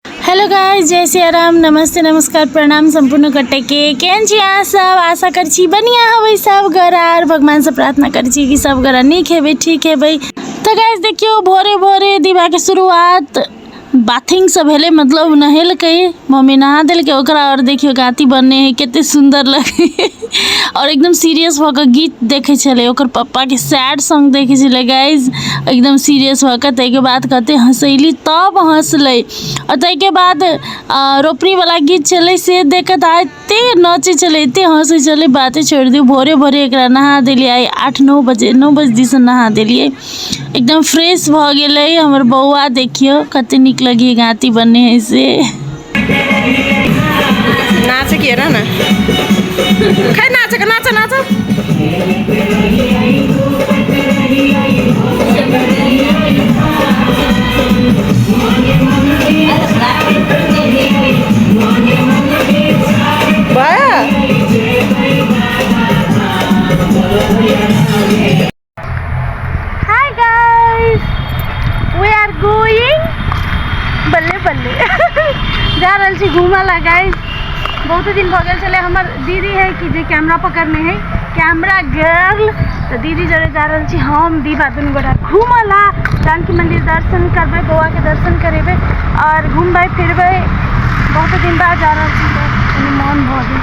Hello guys जय सिया राम नमस्ते नमस्कार प्रणाम सम्पूर्ण कटे के केहन छी अहाँ सब आशा कर छी बढ़िया हवे सब घर आर भगवान से प्रार्थना कर छी कि सब घर नीक हेबे ठीक हेबे तो गाइस देखियो भोरे भोरे दिवा के शुरुआत बाथिंग से भेले मतलब नहेलकै मम्मी नहा देलकै ओकरा और देखियो गाती बनने है कते सुंदर लगे और एकदम सीरियस भ के गीत देखे छले ओकर पप्पा के सैड सॉन्ग देखे छले गाइज एकदम सीरियस भ के तै के बाद कते हंसैली तब हंसले और तै के बाद आ, रोपनी वाला गीत छले से देख के त एते नाचे छले एते हंसे छले बाते छोड़ दियो भोरे भोरे एकरा नहा देलिए आठ नौ बजे नौ बजे दिसन नहा देलिए एकदम फ्रेश भऽ गेलै हमर बौआ देखियौ कते नीक लगी गाँती बने है से नाचे किए ना खै नाचे के नाचे नाचे హాయ్ గైస్ వీఆర్ గోయింగ్ बल्ले बल्ले जा रहल छी घूमय ला गाइस बहुत दिन भऽ गेल छलै हमर दीदी है कि जे कैमरा पकड़ने है कैमरा गर्ल तो दीदी जरे जा रहल छी हम दीपा दुनू गोटा घूमय ला जानकी मंदिर दर्शन करबै बौआ के दर्शन करेबै और घूमबै फिरबै बहुत दिन बाद जा रहल छी तो कनी मोन भऽ गेल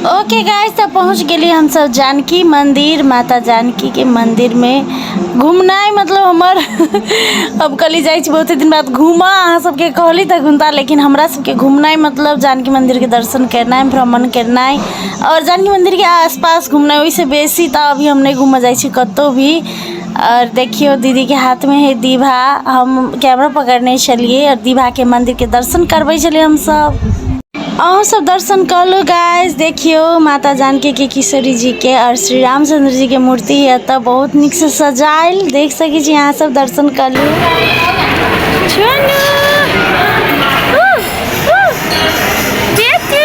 ओके गाइस तऽ पहुँच गेली हमसब जानकी मन्दिर माता जानकीके मन्दिरमे घुमनाइ मतलब हमर अब कहली जाइ छी बहुते दिन बाद घूमऽ अहाँ सबके कहली तऽ घुमता लेकिन हमरा सबके घुमनाइ मतलब जानकी मन्दिरके दर्शन केनाइ भ्रमण केनाइ आओर जानकी मन्दिरके आसपास घुमनाइ ओहिसँ बेसी तऽ अभी हम नहि घूमऽ जाइ छी कतहु भी आओर देखियौ दीदीके हाथमे है दीभा हम कैमरा पकड़ने छलियै आओर दीभाके मन्दिरके दर्शन करबै छलियै हमसब अहूँ सब दर्शन कऽ लू गाइस देखियौ माता जानकी के किशोरी जी के और श्री रामचंद्र जी के मूर्ति य एतऽ बहुत नीक से सजायल देख सकै छी अहाँ सब दर्शन कऽ लू छोनू उह, उह, बेटू।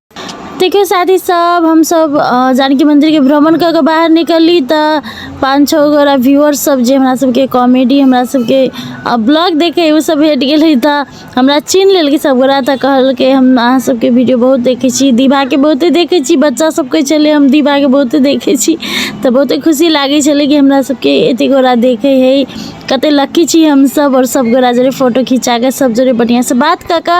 देखियौ साथी सब हमसब अ, जानकी मंदिर के भ्रमण कऽ के बाहर निकलली तऽ पाँच छः गोरा व्यूअर सब जे हमरा सबके कॉमेडी हमरा सबके अ, ब्लॉग देखे उ सब भेट गेलै तऽ हमरा चीन लेलकै सब गोरा तऽ कहलकै हम अहाँ सबके वीडियो बहुत देखै छी दीवा के बहुते देखै छी बच्चा सब कहै छलै हम दीवा के बहुते देखै छी तऽ बहुते खुशी लागै छलै कि हमरा सबके एते गोरा देखै है कते लक्की छी हमसब और सब गोरा जरे फोटो खिंचा के सब जरे बढ़िया से बात कऽ के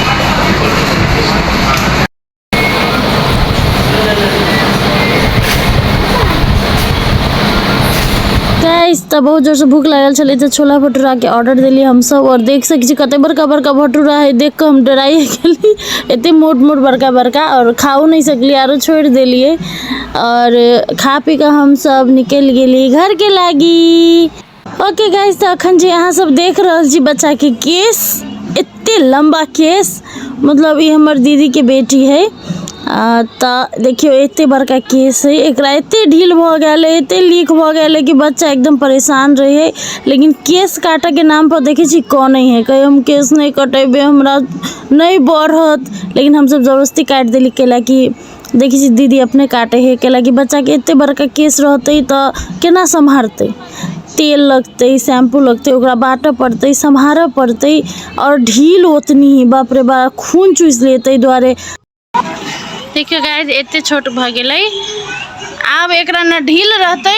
तऽ बहुत जोरसँ भूख लागल छलै तऽ छोला भटूराके ऑर्डर देलियै हमसभ आओर देख सकै छी कतेक बड़का बड़का भटूरा हइ देख कऽ हम डराइए गेली एतेक मोट मोट बड़का बड़का आओर खाओ नहि सकलियै आरो छोड़ि देलियै आओर खा पी कऽ हमसभ निकलि गेली घरके लागी ओके गाइज तऽ अखन जे अहाँ सब देख रहल छी बच्चा के केस एते लम्बा केस मतलब ई हमर दीदी के बेटी है आ, तऽ देखियो एते बड़का केस है एकरा एते ढील भऽ गेल है एते लीक भऽ गेल है कि बच्चा एकदम परेशान रहे है लेकिन केस काटऽ के नाम पर देखे छी कनै है कहे हम केस नहि कटेबे हमरा नहि बढ़त लेकिन हमसब जबरदस्ती काटि देली कैला कि देखै छी दीदी अपने काटै हइ काहे लए कि बच्चाके एते बड़का केश रहतै तऽ केना सम्हारतै तेल लगतै शैम्पू लगतै ओकरा बाटऽ पड़तै सम्हारऽ पड़तै आओर ढील ओतनी बाप रे बा खून चूसि लेत ताहि दुआरे देखियौ गाइज एते छोट भऽ गेलै आब एकरा ने ढील रहतै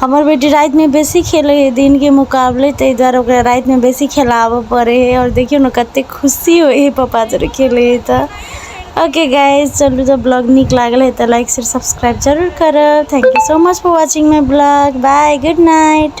हमर बेटी रातिमे बेसी खेलै हइ दिनके मोकाबले ताहि दुआरे ओकरा रातिमे बेसी खेलाबऽ पड़ै हइ आओर देखिऔ ने कतेक खुशी होइ हइ पप्पा जरे खेलै हइ तऽ ओके गाइज चलू जँ ब्लॉग नीक लागल हइ तऽ लाइक शेयर सब्सक्राइब जरूर करब thank you so much for watching my blog bye good night